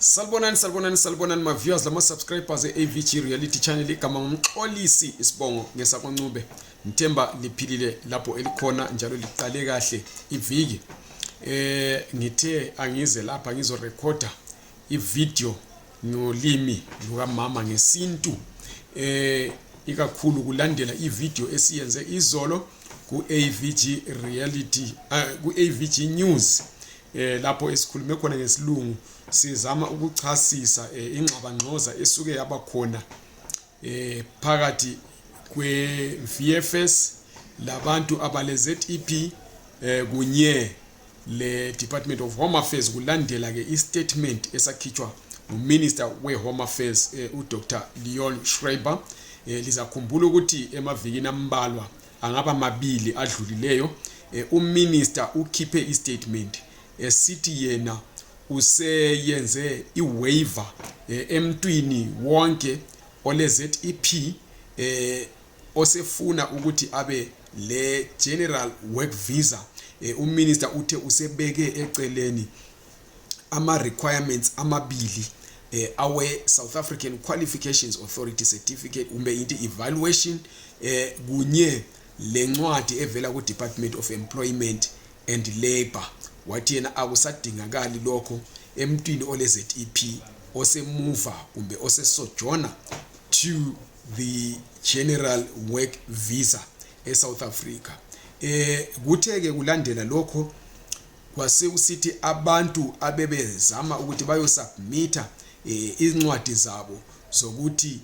Salbonani salbonani salbonani ma viewers lama subscribers eAVG reality channel igama ngumxolisi isibongo ngesakwancube ngithemba liphilile lapho elikhona njalo liqale kahle iviki eh ngithe angize lapha ngizo recorder ivideo ngolimi lukamama ngesintu eh ikakhulu kulandela ivideo esiyenze izolo ku-avg reality uh, eh, ku-avg news eh lapho esikhulume khona ngesilungu sizama ukuchasisa eh, ingxabangxoza esuke yaba khona eh phakathi kwe VFS labantu abale ZEP eh kunye le Department of Home Affairs kulandela ke i statement esakhitshwa nguminister we-home affairs eh, udr leon schreiber eh, lizakhumbula ukuthi emavikini ambalwa angaba mabili adlulileyo eh, uminister ukhiphe istatement esithi yena useyenze iwaiver eh, emntwini wonke ole ZEP eh osefuna ukuthi abe le general work visa eh, uminister uthe usebeke eceleni ama requirements amabili eh, awe South African Qualifications Authority certificate kumbe into evaluation eh, kunye lencwadi evela ku Department of Employment and Labor wathi yena akusadingakali lokho emntwini ole ZEP osemuva kumbe osesojona to the general work visa e South Africa eh kuthe ke kulandela lokho kwasekusithi abantu abebezama ukuthi bayosubmitha um eh, incwadi zabo zokuthi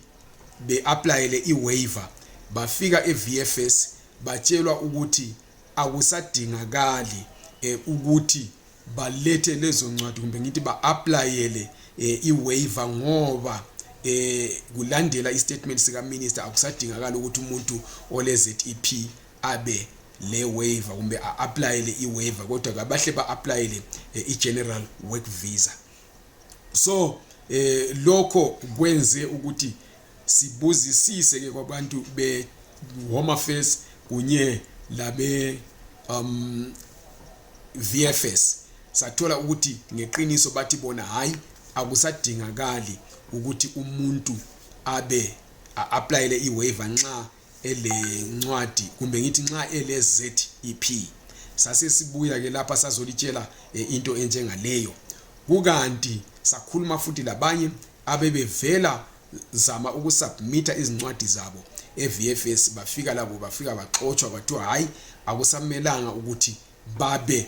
be-aplayele i-waiver bafika e-vfs batshelwa ukuthi akusadingakali eh, ukuthi balethe lezo ncwadi kumbe ngithi ba-aplayele eh, i-waiver ngoba eh kulandela istatement sika minister akusadingakala ukuthi umuntu ole ZEP abe le waiver kumbe a-aplayele i-waiver kodwa kabahle ba-aplayele eh, i-general work visa so eh lokho kwenze ukuthi sibuzisise ke kwabantu be home affairs kunye labe um VFS sathola ukuthi ngeqiniso bathi bona hayi akusadingakali ukuthi umuntu abe a-aplayele i-waiver nxa elencwadi kumbe ngithi nxa ele-zep sasesibuya-ke lapha sazolitshela e, into enjengaleyo kukanti sakhuluma futhi labanye abebevela zama ukusubmitha izincwadi zabo e-vfs bafika labo bafika baxotshwa kwathiwa hhayi akusamelanga ukuthi babe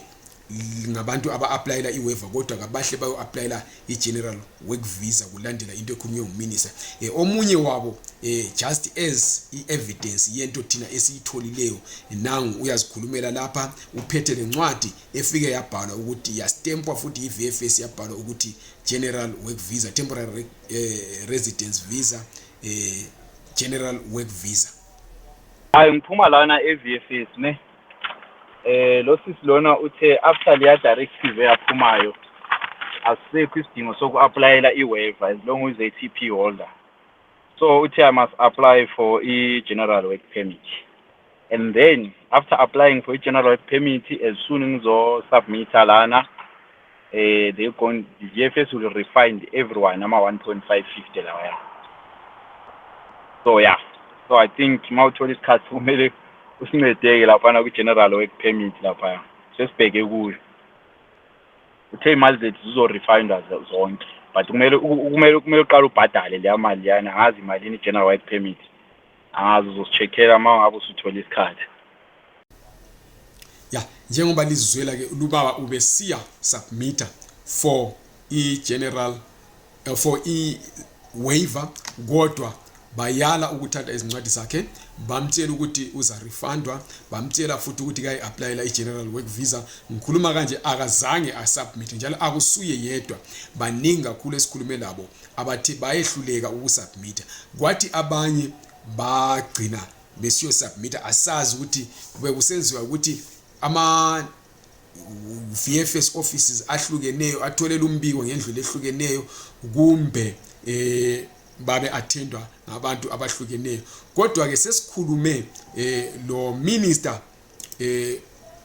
ngabantu aba-aplayela i-waiver kodwa kabahle bayo-aplayela i-general work visa kulandela into ekhulunywe nguminista um eh, omunye wabo um just as i-evidence yento thina esiyitholileyo nangu uyazikhulumela lapha uphethe le ncwadi efike yabhalwa ukuthi yastempwa futhi yi-v f s yabhalwa ukuthi general work visa temporary um residence visa um general work visa ayi ngiphuma lana e-v f s ne eh losisi lona uthe after leya directive eyaphumayo asisekho isidingo soku-aplayela i-waiver as long as a tp holder so uthe i must apply for i-general work permit and then after applying for i-general work permit as soon ngizosubmitha lana eh they gone the GFS will refine everyone ama 1.550 lawa ya so yeah so i think uma uthola isikhathi kumele usincedeke laphana kwi-general work permit laphaya sesibheke kuyo uthe imali zethu zizo-refindwa zonke but kumele kumele kumele uqala ubhadale leya mali leyana ngazi imalini i-general work permit angazi uzosi-check-ela uma ungabe usuthole isikhathi ya njengoba lizizwela ke lubaba ubesiya submitter for i-general eh, for i-waiver kodwa bayala ukuthatha izincwadi zakhe bamtshela ukuthi uza refundwa bamtshela futhi ukuthi kayi applyela i-general work visa ngikhuluma kanje akazange asubmit njalo akusuye yedwa baningi kakhulu esikhulume labo abathi bayehluleka ukusubmita kwathi abanye bagcina besiyosubmita asazi ukuthi bekusenziwa ukuthi ama VFS offices ahlukeneyo atholela umbiko ngendlela ehlukeneyo kumbe eh babe attendwa ngabantu abahlukeneyo kodwa ke sesikhulume eh lo minister eh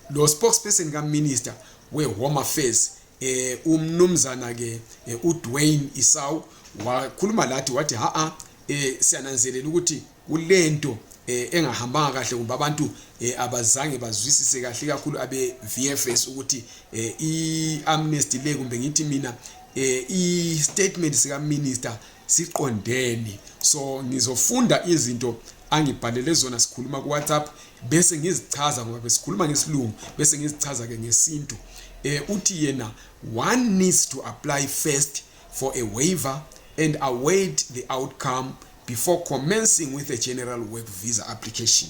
lo spokesperson ka minister we home affairs eh umnumzana ke eh, uDwayne Isawu wakhuluma lathi wathi ha a eh siyananzelela ukuthi kulento eh, engahambanga kahle kumbe abantu eh, abazange bazwisise kahle kakhulu abe VFS ukuthi eh, i amnesty le kumbe ngithi mina eh, i statement sika minister siqondeni so ngizofunda izinto angibhalele zona sikhuluma ku WhatsApp bese ngizichaza ngoba besikhuluma ngesilungu bese ngizichaza ke ngesintu eh uthi yena one needs to apply first for a waiver and await the outcome before commencing with a general work visa application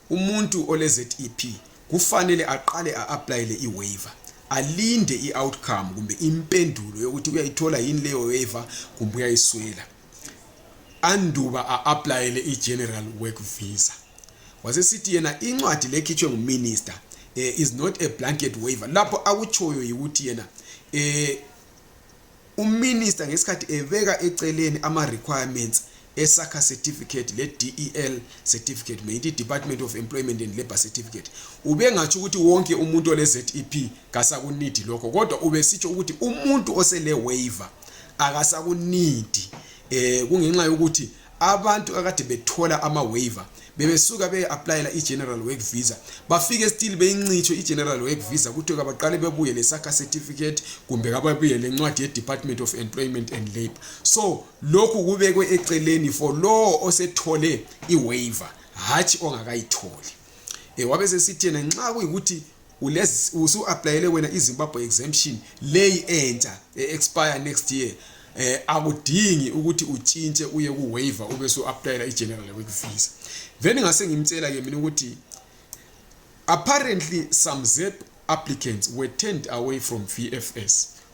umuntu ole zep kufanele aqale a-aplayele i-waiver alinde i-outcome kumbe impendulo yokuthi uyayithola yini leyo waiver kumbe uyayiswela anduba a-aplayele i-general work visa wasesithi yena incwadi lekhitshwe nguminister um is not a blanket waiver lapho akutshoyo yikuthi yena um Uminister ngesikhathi ebeka eceleni ama requirements esakha certificate le DEL certificate meyithi Department of Employment and Labor certificate ubengatsho ukuthi wonke umuntu ole ZEP kasakunidi lokho kodwa ubesitsho ukuthi umuntu osele waiver akasakunidi eh kungenxa yokuthi abantu akade bethola ama waiver bebesuka beye applyela i general work visa bafike still beyincitsho i general work visa kuthiwe kabaqale bebuye le saka certificate kumbe kababuye le ncwadi ye department of employment and labor so lokhu kubekwe eceleni for lowo osethole i waiver hatshi ongakayitholi e eh, wabe sesithi yena nxa kuyikuthi usu-aplayele wena izimbabwe exemption leyi entsha e-expire next year eh akudingi ukuthi utshintshe uye ku waiver ube so applyela i general work visa then ngase ngimtshela ke mina ukuthi apparently some zep applicants were turned away from VFS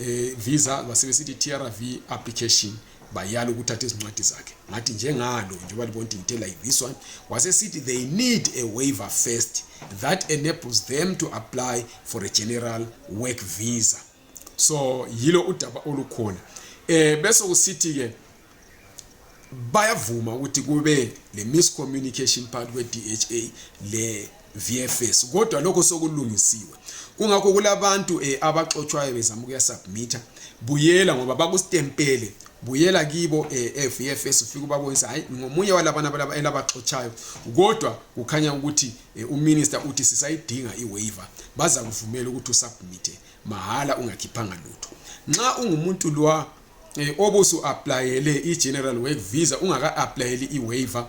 eh, visa basebesithi trv application bayala ukuthatha izincwadi zakhe ngathi njengalo njengoba libona ukuthi ngithe like this one wasesithi they need a waiver first that enables them to apply for a general work visa so yilo udaba olukhona eh bese kusithi ke bayavuma ukuthi kube le miscommunication part kwe DHA le VFS kodwa lokho sokulungisiwe kungakho kulabantu eh, abaxotshwayo bezama ukuya submit buyela ngoba bakustempele buyela kibo eh, eh VFS ufike ubabonisa hayi ngomunye walabana balaba elabaxotshayo kodwa kukhanya ukuthi eh, uminister uthi sisayidinga iwaiver baza kuvumela ukuthi usubmit mahala ungakhiphanga lutho nxa ungumuntu lwa eh, obusu applyele i general work visa ungaka applyeli i waiver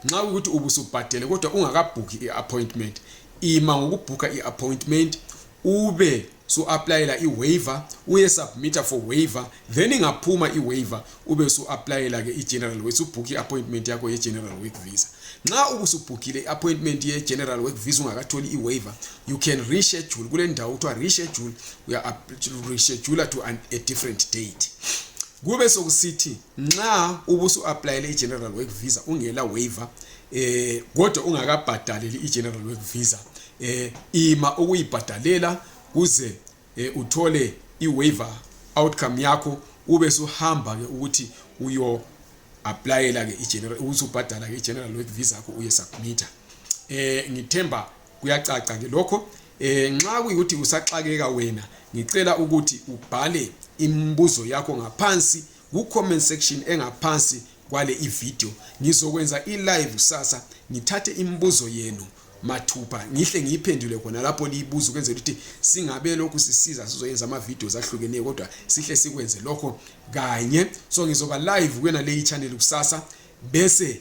nxa ukuthi ubusubhadele kodwa ungakabhukhi i appointment ima ngokubhukha i appointment ube su applyela i waiver uye submitter for waiver then ingaphuma i waiver ube su applyela ke i general work ubhukhi appointment yakho ye general work visa nxa ubusubhukhile i appointment ye general work visa ungakatholi i waiver you can reschedule kule ndawo kuthiwa reschedule uya-reschedula to an, a different date kube sokusithi nxa ubusu-aplayele i-general work visa ungela waiver eh kodwa ungakabhadaleli i-general work visa eh ima ukuyibhadalela kuze eh, uthole i-waiver outcome yakho ube suhamba ke ukuthi uyo aplayela ke i-general ukuthi ubhadala ke i-general work visa yakho uye submitter eh ngithemba kuyacaca ke lokho eh nxa kuyikuthi usaxakeka wena ngicela ukuthi ubhale imibuzo yakho ngaphansi ku comment section engaphansi kwale ivideo ngizokwenza ilive kusasa ngithathe imibuzo yenu mathupha ngihle ngiyiphendule khona lapho liyibuza ukwenzela ukuthi singabe lokhu sisiza sizoyenza ama-videos ahlukeneyo kodwa sihle sikwenze lokho kanye so ngizoba live kuyona leyi channel kusasa bese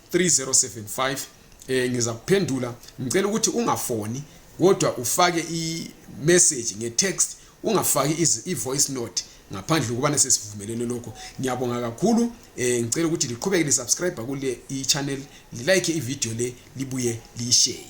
3075 eh ngiza kuphendula ngicela ukuthi ungafoni kodwa ufake i message nge text ungafaki i voice note ngaphandle kokubana sesivumelene lokho ngiyabonga kakhulu eh ngicela ukuthi liqhubeke lisubscribe kule i channel like i video le libuye liyishare